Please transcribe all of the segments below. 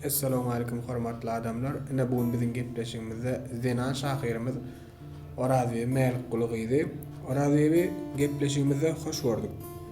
Essalamu aleýkum hormatly adamlar. Ine bu gün biziň gepleşigimizde zenan şahyrymyz Orazbibi Mälikguly gyzy. Orazbibi gepleşigimizde hoş gördük.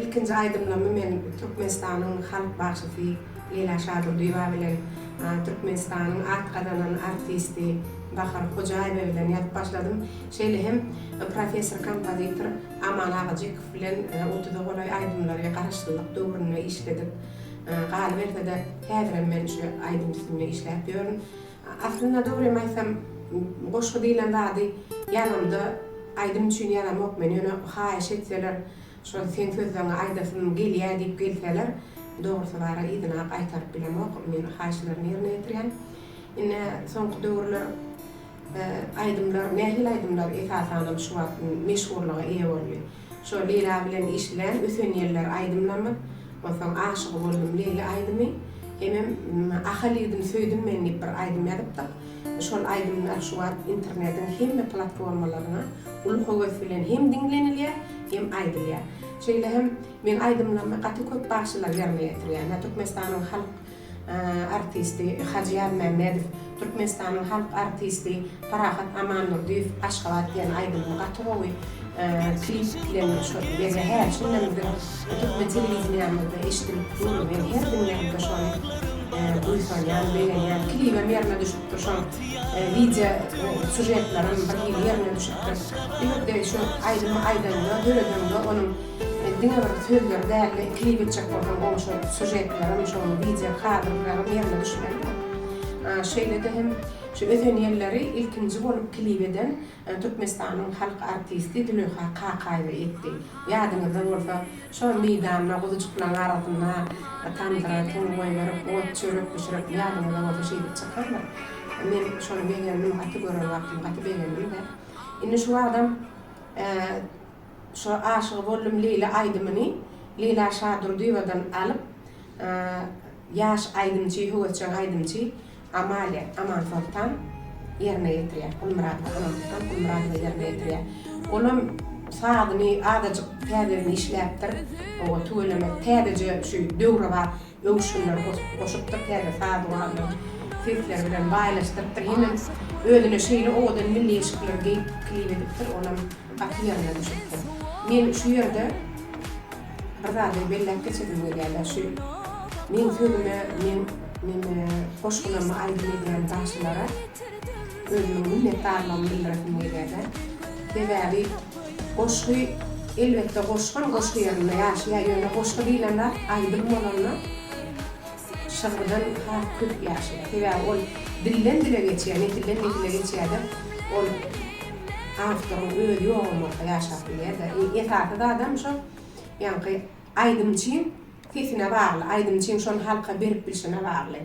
Ilkinji aýdymlarymy men Türkmenistanyň halk bagşysy Leýla Şadurdyýewa bilen Türkmenistanyň at gazanan artisti Bahar Hojaýewa bilen ýazyp başladym. Şeýle hem professor kompozitor Aman Agajykow bilen otuza golaý aýdymlary garaşsyzlyk döwründe işledik. Galyberse-de, häzirem men şu aýdym üstünde işläp ýörün. Aslynda dogrymy aýtsam goşgy diýlen zady ýazamda aýdym üçin ýazamok men ýöne haýyş etseler şol seň sözleňi aýdasym gelýä diýip gelseler dogrusy bara yzynap aýtaryp bilemok men haýyşlaryny ýerine ýetirýän ine soňky döwürler aýdymlar nähili aýdymlar esasanam şu wagt meşhurlyga eýe boldy. Şol Leyla bilen eşilen Öten ýeller aýdymlamy, onsoň Aşygy boldum Leýli aýdymy, hemem Ahal ýigdim söýdüm men diýip bir aýdym ýazypdyk. Şol aýdymlar şu wagt internetiň hemme platformalaryna uly höwes bilen hem diňlenilýär, hem aýdylýar. Şeýle hem meň aýdymlarymy gaty köp bagşylar ýerine ýetirýär. Türkmenistanyň halk artisti Hajy Ýazmämmedow, Türkmenistanyň halk artisti Parahat Amandurdyýew Aşgabat diýen aýdymyny gaty gowy klip bilen şu gije hä şunda biziň türkmen telewideniýamyzda eşidilip dur men her diňlämde şony buýsanýan begenýän klibem ýerine düşüpdir şoň wideo sýužetlerem bir hili ýerine düşüpdir bu ýerde şu aýdymy aýdanda döredende onuň Men diňe bir sözleri dälde klip etjek bolsam gowy şol sujetlerim şol wideo kadrlarym ýerine düşmelidir. Şeýlede hem şu ösen ýylleri ilkinji bolup klip eden Türkmenistanyň halk artisti Züleýha Kakaýewa etdi. Ýadyňyzda bolsa şo meýdanda guzujyklaň arasynda tamdyra tum goýberip ot çörek bişirip ýadyňyzda bolsa şeýdip çykandyr. Men şony begendim gaty gören wagtym gaty begendim-de. Indi şu wagtam Şu Aşygy boldum Leýla aýdymyny Leýla Şadurdyýewadan alyp ýaş aýdymçy, höwesjeň aýdymçy Amalia Amansoltan ýerine ýetirýär. Gulmyradowa Amansoltan Gulmyradowa ýerine ýetirýär. Olam sazyny azajyk täzeden işläpdir. Oba tüweleme täzeje şu döwrebap. öwüşginleri goşup, goşupdyr, täze saz gurallaryny sesleri bilen baýlaşdyrypdyr, hemem özüne şeýle owadan milli eşikleri geýip klip edipdir, olam gaty ýerine düşüpdir. Men şu ýerde bir zady belläp geçesim gelýär-de, şu meň sözüme, meň neme goşgularyma aýdym edýän bagşylara özümiň minnetdarlygymy bildiresim gelýär-de. Sebäbi. Goşgy, elbetde goşgam goşgy ýerinde ýaşaýar, ýöne goşgy diýlen zat aýdym bolanda şygrydan has köp ýaşaýar. Sebäbi ol dilden dile geçýär, nesilden nesile geçýärde, ol awtoryň özi ýogam bolsa ýaşap bilýärde. Iň esasy zadam şo ýaňky aýdymçyň sesine bagly, aýdymçyň şony halka berip bilşine bagly.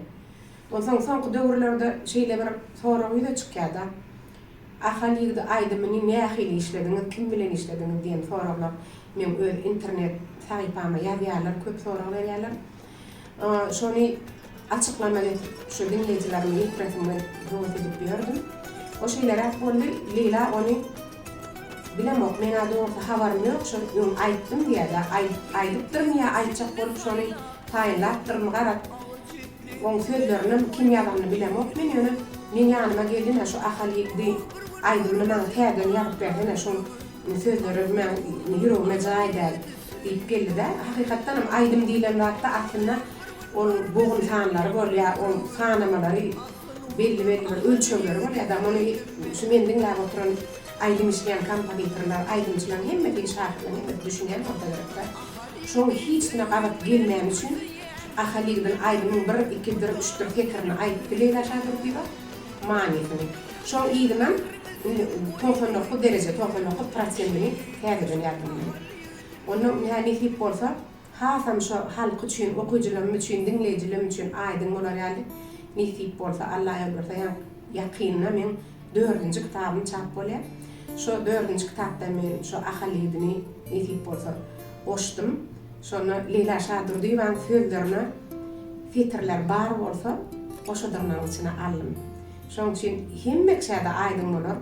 Onsoň soňky döwürlerde şeýle bir sorag ýüze çykýarda. Ahal ýigidi aýdymyny nähili işlediňiz, kim bilen işlediňiz diýen soraglar meň öz internet sahypama ýazýarlar, köp sorag berýärler. Şony açyklamak edip şu diňleýjilerime ýetresim gelip höwes edip ýördüm. O şeýleräk boldy, Leýla ony Bilemok, men-ä dogrusy habarym ýok, şony öň aýtdym diýýär ýa aýdypdyrmy ýa aýtjak bolup şony taýynlapdyrmy garaz, Oň sözlerinem kim ýazanyny bilemok men ýöne meň ýanyma geldine şu Ahal ýigdi aýdymyny maňa täzeden ýazyp bersene şoň sözleri meň ýüregime jaý däl diýip geldidä hakykatdanam aýdym diýlen zatda aslynda oň bogun sanlary bolýa oň sanamalary belli belli bir ölçegleri bolýa da muny şu men diňläp oturan aýdym işleýän kompozitorlar aýdymçylaň hemmesi şahyryň hemmesi düşünýän bolsa gerekdä şoň hiç kime gabat gelmäni üçin Ahalygdyn aýdymyň bir, iki, bir, üçdir setirini aýdyp bileýdä şa Durdyýewa? Manysyny. Şoň yzynam indi togsan dokuz dereje, togsan dokuz prosentini täzeden ýazdyň indi. Onda ýa nesip bolsa, hasam şo halk üçin, okyjylarym üçin, diňleýjilerim üçin aýdyň bolar ýaly, nesip bolsa, Alla ýolberse ýa ýakynda meň dördünji kitabym çap bolýa. Şo dördünji kitapda men şo Ahalygdyny nesip bolsa goşdum. Şonda Leýla Şadurdyýewanyň sözlerine setirler bar bolsa, goşadygnaň içine aldym. Şoň üçin hemmekiçä-de aýdyň bolar,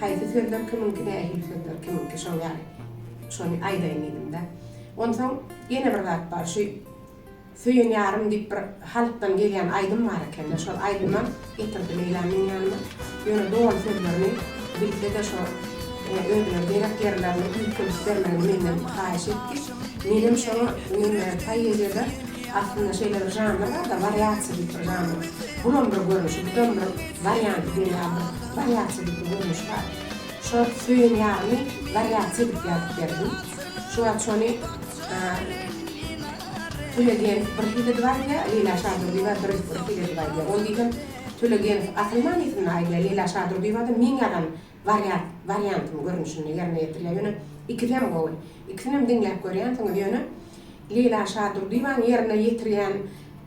haýsy sözler kimiňki, nähili sözler kimiňki, şoň ýaly şony aýdaýyn diýdim-de. Onsoň ýene bir zat bar, şu. Söýen ýarym diýip bir halkdan gelýän aýdym bar ekende şol aýdyma getirdi Leýla meň ýanyma ýöne doly sözlerini bilsede şo özüne gerek ýerlerini üýtgedip bermegini menden haýyş etdi menem şoňa mende poeziýada aslynda şeýle bir žanr barda wariasiýa diýip bir žanr bunam bir görnüşi budam bir wariant diýen ýaly bir wariasiýa diýip bir görnüş bar şo söýen ýarymy wariasiýa diýip ýazyp berdim şuwagt şony Tölegeýew bir hit edip aýdýar, Leýla Şadurdyýewa bir bir hit edip aýdýar. Ol diýsem Tölegeýew asyl manysynda aýdýar, Leýla Şadurdyýewa da meň ýazan wariat wariantym görnüşinde ýerine ýetirýär. Ýöne ikisem gowy. Ikisinem diňläp görýänsiňiz. Ýöne Leýla Şadurdyýewanyň ýerine ýetirýän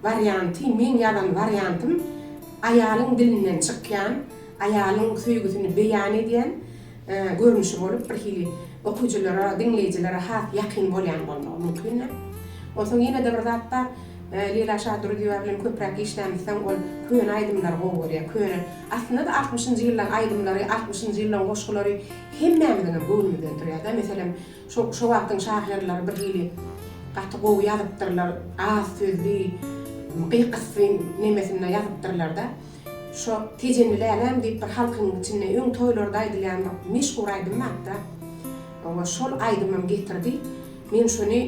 warianty meň ýazan wariantym aýalyň dilinden çykýan, aýalyň söýgüsini beýan edýän, görnüşi bolup, birhili okyjylara, diňleýjilere has ýakyn bolýan bolmagy mümkindir. Onsoň ýene-de bir zat bar, Leýla Şadurdyýewa bilen köpräk işlämmi soň ol köne aýdymlary gowy görýär. Köne, aslynda-da altmyşynjy ýyllaryň aýdymlary, altmyşynjy ýyllaryň goşgulary hemmämiziňem göwnümi döndürýär-de. Meselem, şo, şo wagtyň şahyrlary birhili gaty gowy ýazypdyrlar, az sözli, gyk-ysy nemesinde ýazypdyrlar-da. Şo Tejenli läläm diýip bir halkyň içinde öň toýlarda aýdylýan bir meşhur aýdym bapda. Oňa şol aýdymym getirdi. Men şony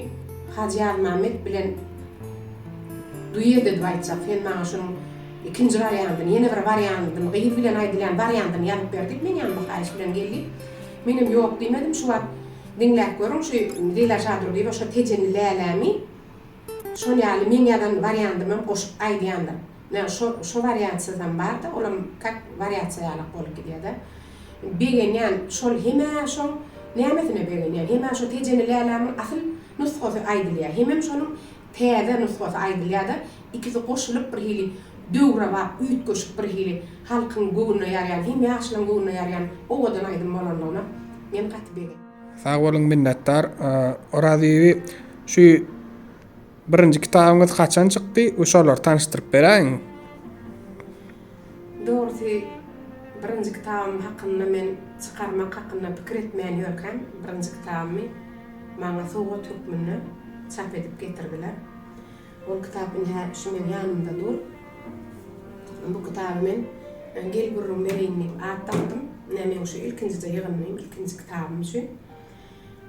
Hajy Ýazmämmet bilen duet edip aýtjak. Sen maňa şonuň ikinji wariantyny, ýene bir wariantyny, gyz bilen aýdylýan wariantyny ýazyp ber diýip meň ýanyma haýyş bilen geldi. Menem ýok diýmedim. Şu wagt diňläp görüň şu Leyla Şadurdyýewa şo Tejenli lälämi şol ýaly meň ýazan wariantymam goşup aýdýandyr. Ýa şo şo wariantsyzam barda olam kak wariatsiýa ýalak bolup gidýäda. Begenýän şol hemä şoň nämesine begenýän hemä şo tejeni lälämiň asyl nusgasy aýdylýa hemem şonuň täze nusgasy aýdylýada ikisi goşulyp bir hili döwrebap üýtgeşik bir hili halkyň göwnüne ýarýan hem ýaşlaň göwnüne ýarýan owadan aýdym bolanlygyna men gaty bege. Sag boluň minnetdar Orazýewi şu Birinji kitabyňyz haçan çykdy we şolary tanyşdyryp beräýiň. Dogrusy birinji kitabym hakynda men çykarmak hakynda pikir etmän ýörkäm birinji kitabymy maňa sowgat hökmünde çap edip getirdiler. Ol kitap ine-hä şu meň ýanymda dur. Bu kitaby men Gel gürrüň bereýin diýip at dakdym. Ine meň şu ilkinjije ýygyndyym, ilkinji kitabym üçin.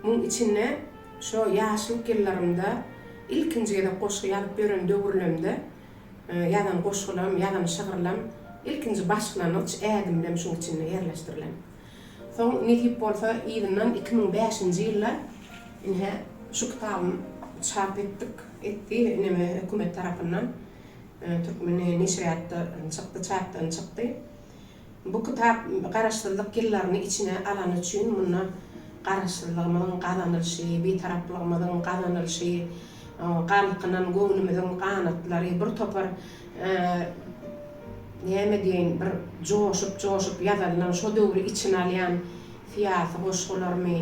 Muň içinde Şo ýaşlyk ýyllarymda ilkinji gezek goşgy ýazyp ýören döwürlemde ýazan goşgulam, ýazan şygyrlam, ilkinji başlangyç ädimlem şuň içinde ýerleşdirilen. Soň nesip bolsa yzyndan iki müň bäşinji ýylda ine şu kitabym çap etdik, etdi neme hökümet tarapyndan, Türkmen neşirýatda çykdy, çapdan çykdy. Bu kitap Garaşsyzlyk ýyllaryny içine alany üçin munda Garaşsyzlygymyzyň gazanylyşy, Bitaraplygymyzyň gazanylyşy, galkynan göwnümiziň ganatlary, bir topar näme diýeýin, bir joşup-joşup ýazylan, şo döwri içine alýan syýasy goşgularmy,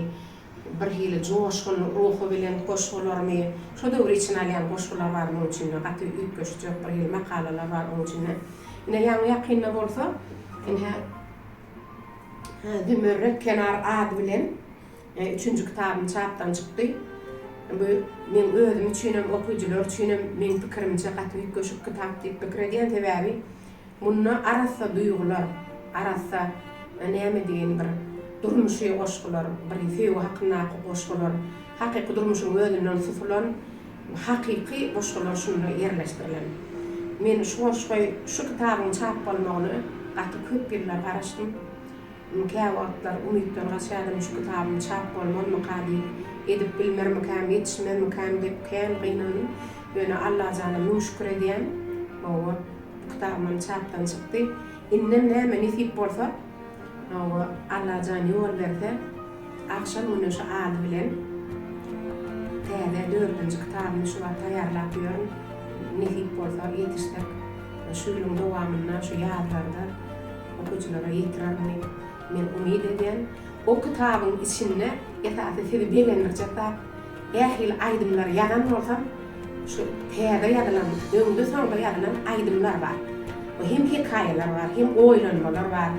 Birhili joşgun, ruhubelent goşgularymy, şo döwri içine alýan goşgular bar munuň içinde, gaty üýtgeşik ýok, birhili makalalar bar onuň içinde. Ine, ýaňy-ýakynda bolsa, ine, Zümerret kenar ady bilen üçünji kitabym çapdan çykdy. Bu meň özüm üçinem, okyjylar üçinem, meň pikirimçe, gaty üýtgeşik kitap diýip pikir edýän, sebäbi, Munda arassa duýgular, arassa näme diýeýin bir durmuşy goşgular, bir söýgi hakyndaky goşgular, hakyky durmuşyň özünden susulan hakyky goşgular şunda ýerleşdirilen. Men şu goşgy, şu kitabyň çap bolmagyna gaty köp ýyllar garaşdym. Käwagtlar umytdan gaçýardym, şu kitabym çap bolmazmyka diýip, edip bilmermikäm, ýetişmezmikäm diýip kän gynandym. Ýöne Allajana müň şükür edýän. Hawa. Kitabymam çapdan çykdy. Indem näme nesip bolsa, hawa, Allajan ýol berse, agşam güneşi ady bilen täze dördünji kitabymy şu wagt taýýarlap ýörün. Nesip bolsa, ýetişsek, şu ýylyň dowamynda, şu ýazlarda okyjylara ýetirerin diýip, men umyt edýän. O kitabyň içinde esasy sizi begendirjek zat, Ähli aýdymlary ýazan bolsam, şu täze ýazylan, öňde-soňda ýazylan aýdymlar bar. Hem hekaýalar bar, hem oýlanmalar bar.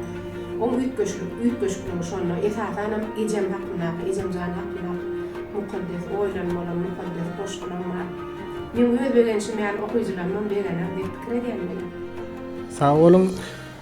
Oň üýtgeşik, üýtgeşikligi şonda. Esasanam ejem hakyndaky, ejem jan hakyndaky mukaddes oýlanmalar, mukaddes goşgulam bar. Meň öz begenşim ýaly okyjylarymam begener diýip pikir edýän men. Sag boluň.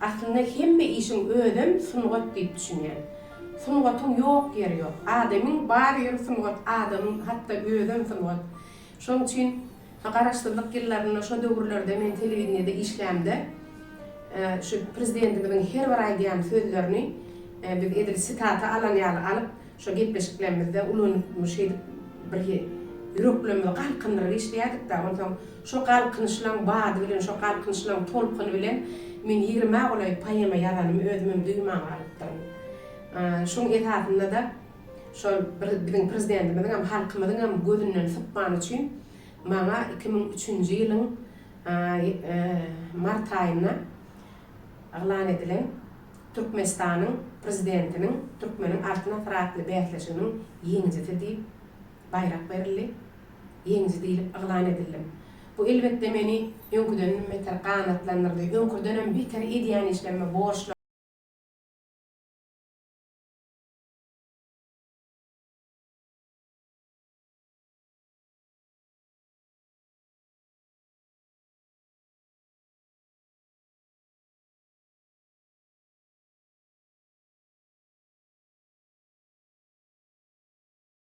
Aslynda hemme işiň özem sungat diýip düşünýän. Sungatyň ýok ýeri ýok. Adamyň bar ýeri sungat, adamyň hatda özem sungat. Şonuň üçin Garaşsyzlyk ýyllarynda şo döwürlerde men telewideniýede işlämde şu prezidentimiziň her bir aýdýan sözlerini biz edil sitata alan ýaly alyp şo gepleşiklerimizde ulanyp şeýdip birhi ýüreklerimizi galkyndyryp işleýädikdä onsoň Şo galkynyşlaň bady bilen, şo galkynyşlaň tolkuny bilen men ýigrimä golaý poema ýazanym özümem duýman galypdyryn. Şoň esasynda-da şol bir biziň Prezidentimiziňem, halkymyzyňam gözünden sypman üçin maňa iki müň üçünji ýylyň mart aýynda yglan edilen Türkmenistanyň Prezidentiniň Türkmeniň Altyn asyry atly bäsleşiginiň ýeňijisi diýip, baýrak berildi. Ýeňiji diýlip yglan edildim. Bu elbetde meni öňküdenem beter ganatlandyrdy. Öňküdenem beter edýän işlerime borçluyam.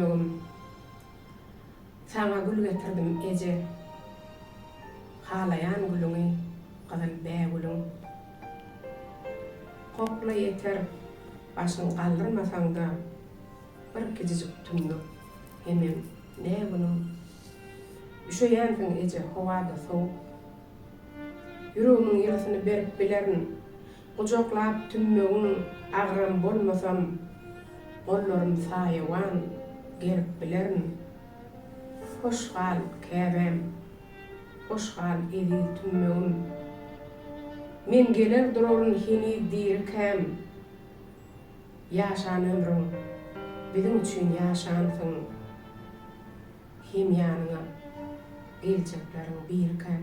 Dogdum. Saňa gül getirdim, eje. Halaýan gülüňi, gyzyl bägülüň. Kokla ýeter, başyň galdyrmasaň-da, bir kijijik tümmek, hemem ne günüň. Üşeýänsiň, eje, howa-da sowuk. Ýüregimiň ýylysyny berip bilerin, Gujaklap tümmegiň agram bolmasam, Gollarym saýawan gerip bilerin. Hoş gal, Käbäm! Hoş gal, eziz tümmegim! Men geler duraryn heniz dirikäm. Ýaşan ömrüň, biziň üçin ýaşansyň. Hem ýanyňa geljekleriň birikäm.